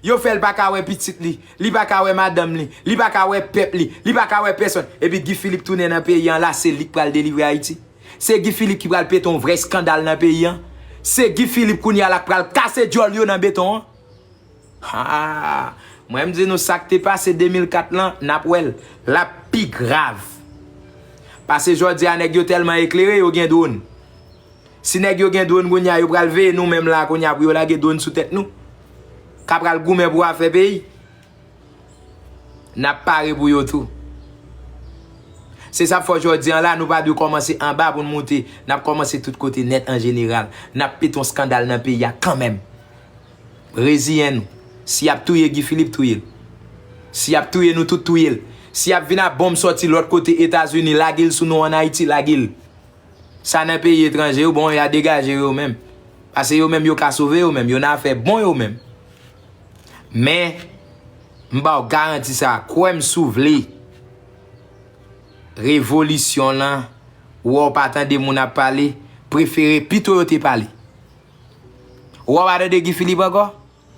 Yo fè l pa ka wè pitit li, li pa ka wè madanm li, li pa ka wè pèp li, li pa ka wè pèsòn. Epi Guy Philippe tounen nan peyi an la se li k pral delivre Ayiti? Se Guy Philippe ki pral pete yon vrè eskandal nan peyi an? Se Guy Philippe kounye a la k pral kase dyòl yo nan beton an? Haa! Mwen m di nou sa k te pase 2004 lan n ap wè l, l ap pi grav. Pase jòdi a nèg yo tèlman eklere yo gen dron. Si nèg yo gen drone kounya yo pral veye nou menm la kounya pou yo lage drone sou tèt nou. Ka pral goumen pou afè peyi. Nap pare pou yo tou. Se sa fò jodi an la nou pa dwe kòmanse anba pou nou moute. Nap kòmanse tout kote nèt an jeneral. Nap pete yon skandal nan peyi a kanmenm. Reziyen nou. Si yap touye Guy Philippe touye l. Si yap touye nou tout touye l. Si yap vin a bonm sòti lòt kote Etazini lage l sou nou an Ayiti lage l. Sa nan peyi etranje yo bon ya degaje yo menm pase yo menm yo ka sove yo menm yo nan afè bon yo menm men m baw garanti sa kwèm si w vle revolisyon lan wè w pa tande moun ap pale prefere pito yo te pale wè w pa tande Guy Philippe ankò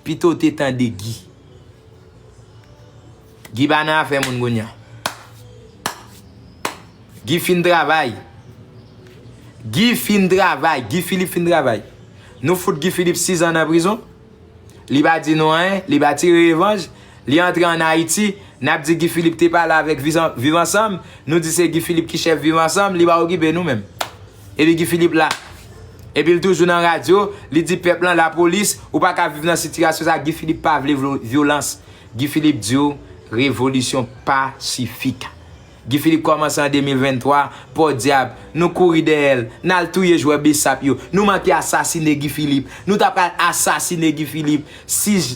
Pitow te tande Guy. Guy pa nan afè moun kounye a. Guy fin travay. Guy fin travay. Guy Philippe fin travay. Nou fout Guy Philippe 6 ans nan prizon. Li pa di nou anyen. Li pa tire revanj. Li antre an Haiti. Nap di Guy Philippe te pale avek viv ansanm. Nou di se Guy Philippe ki chef viv ansanm. Li pa okipe nou menm. Epi Guy Philippe la. Epi l toujou nan radyo, li di pèp lan lapolis, ou pa ka viv nan sitirasyon sa, Guy Philippe pa vle vyolans. Guy Philippe di w, revolisyon pasifik. Guy Philippe kòmanse an 2023, pòdyab, nou kouri dèyè l, n al touye jwè Bsap yo, nou manke asasine Guy Philippe, nou ta pral asasine Guy Philippe, si.